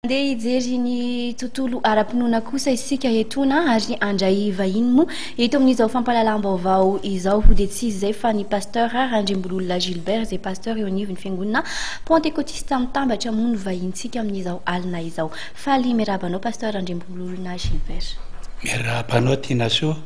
Handeha hijery ny tontolo ara-pinoana kosa isika etoana ary handray vahiny moa eto amin'izao fampahalalam-baovao izao ho dia tsy iza izay fa ny Pasteur Randriambololona Gilbert izay Pasteur eo anivon'ny Fiangonana Pantekotista Mitambatra moa no vahintsika amin'izao alina izao. Faly miarahaba anao Pasteur Randriambololona Gilbert. Miarahaba anao Tinasoa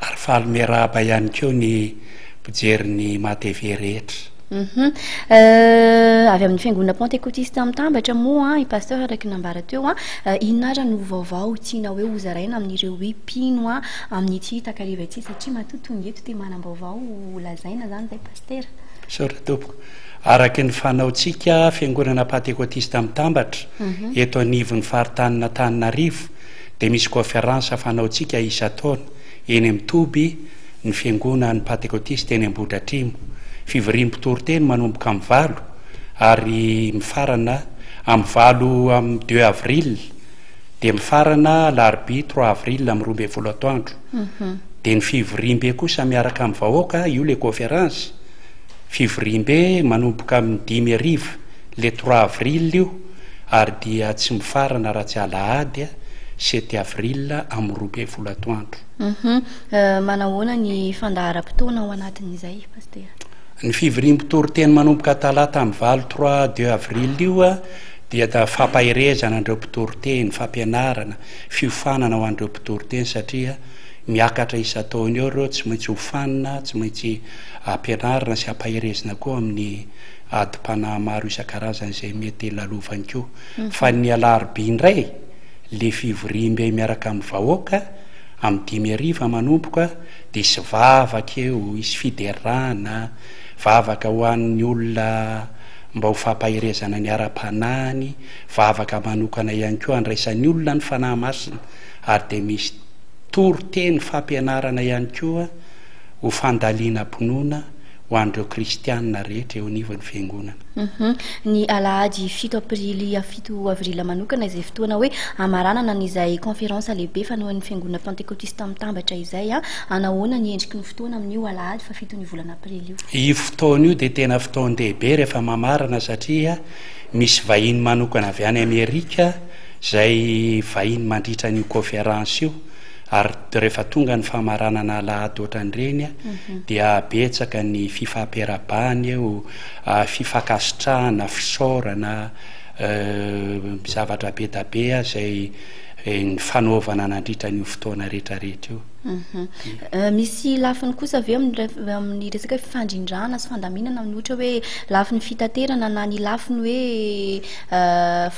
ary faly miarahaba ihany koa ny mpijery ny Maha TV rehetra. Humm avy amin'ny fiangonana pantekotista Mitambatra moa i Pasteur araka ny nambara teo an, inona ary no vaovao tianao hoe hozaraina amin'ireo hoe mpino amin'ity takariva ity satria matoa tonga eto dia manam-baovao ho lazaina izany izay Pasitera. Misaotra tompoko. Araka ny fanaontsika fiangonana pantekotista Mitambatra eto anivon'ny faritanin'Antananarivo dia misy kôferansa fanaontsika isan-taona. Eny amin'ny toby ny Fiangonan'ny Pantekotista eny Ambohidratrimo. Fivoriam-pitoriteny manomboka amin'ny valo ary mifarana amin'ny valo amin'ny deux avril dia mifarana alarobia trois avril amin'ny roa ambin'ny folo atoandro. Dia ny fivoriambe kosa miaraka amin'ny vahoaka, io ilay conférence, fivoriambe manomboka amin'ny dimy hariva. Le trois avril io ary dia tsy mifarana raha tsy alahady a, sept avril amin'ny roa ambin'ny folo atoandro. Hum manahoana ny fandaharam-potoana ao anatin'izay Pasitera? Ny fivoriam-pitoriteny manomboka talata amin'ny valo trois deux avril io dia fampaherezana an'ireo mpitoriteny, fampianarana, fiofanana ho an'ireo mpitoriteny satria miakatra isan-taona eo ireo, tsy maintsy hofanina, tsy maintsy ampianarina sy ampaherezina koa amin'ny adim-panahy maro isan-karazany izay mety hilalovany koa. Fa ny alarobia indray, ilay fivoriambe miaraka amin'ny vahoaka, amin'ny dimy hariva manomboka, dia hisy vavaka eo, hisy fiderana, vavaka ho an'ny olona mba ho fampaherezana ny ara-panahiny, vavaka manokana ihany koa handraisan'ny olona ny Fanahy Masina, ary dia misy toriteny fampianarana ihany koa ho fandalinam-pinoana, ho an'ireo kristiana rehetra eo anivon'ny Fiangonana. Ny alahady fito aprily fito avril manokana izay fotoana hoe hamaranana an'izay kaonferansa lehibe fanohan'ny Fiangonana Pantekotista Mitambatra izay. Hanahoana ny endriky ny fotoana amin'io alahady fahafiton'ny volana aprily io? Io fotoana io dia tena fotoan-dehibe rehefa mamarana satria misy vahiny manokana avy any Amerika izay vahiny mandritra an'io kaonferansa io. Ary rehefa tonga ny famaranana alahady ohatran'ireny dia betsaka ny fifampirabahana eo, fifankasitrahana, fisaorana, zavatra be da be izay nifanaovana nandritra an'io fotoana rehetrarehetra io. Misy lafiny kosa ve amin'ny resaka fifandrindrana sy fandaminana amin'ny ohatra hoe lafiny fitaterana na ny lafiny hoe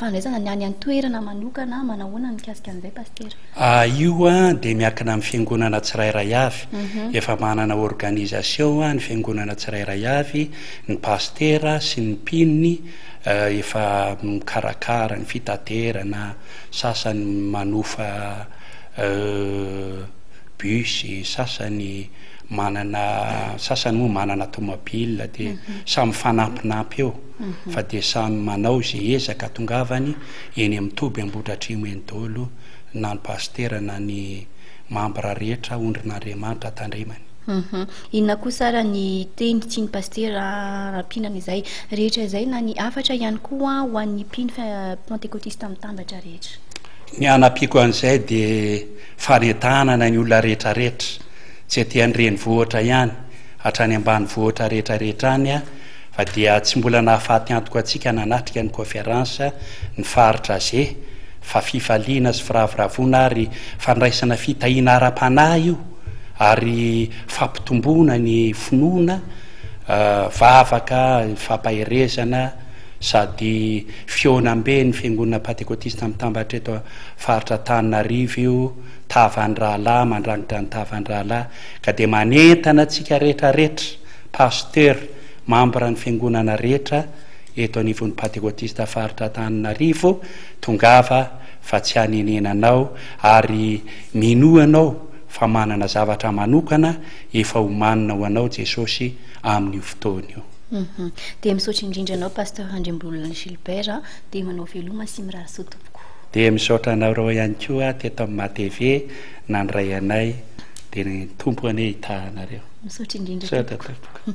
fandraisana ny any an-toerana manokana, manahoana ny mikasika an'izay Pasitera? A Io dia miankina amin'ny fiangonana tsirairay avy. Efa manana organisation ny fiangonana tsirairay avy, ny pasitera sy ny mpinony efa mikarakara ny fitaterana, sasany manofa bus, sasany manana, sasany moa manana tomobile dia samy mifanampinampy eo fa dia samy manao izay ezaka atongavany. eny amin'ny toby Ambohidratrimo eny daholo na ny pasitera na ny mambra rehetra ondrin'Andriamanitra tandremany. Inona kosa ary ny teny tsy ny pasitera rampinana izay rehetra izay na ny hafatra ihany koa ho an'ny mpino pantekotista mitambatra rehetra? Ny hanampiako an'izay dia fanentanana ny olona rehetrarehetra tsy aty an-drenivohitra ihany hatrany ambanivohitra rehetrarehetra any Fa dia tsy mbola nahafaty antoka antsika nanatrika ny Kônferansa ny Faritra Asie fa fifaliana sy firavoravoana ary fandraisana fitahiana ara-panahy io ary fampitomboana ny finoana, vavaka, fampaherezana sady fihaonamben'ny Fiangonana Pantekotista Mitambatra eto Faritra Antananarivo io tavan'ny rahalahy mandrangitra ny tavan'ny rahalahy ka dia manentana antsika rehetra rehetra Pasteur, Membre ny Fiangonana rehetra eto anivon'ny Patekotista Faritra Antananarivo, tongava fa tsy hanenena anao ary minoa anao fa manana zavatra manokana efa omanina ho anao Jesosy amin'io fotoana io. Dia misaotra indrindra anao Pasteur Andriambololona Gilbert dia manao veloma sy mirary soa tompoko. Dia misaotra anareo ihany koa teto amin'ny Maha TV. nandray anay de ny Tompo anie hitaha anareo. Misaotra indrindra tompoko.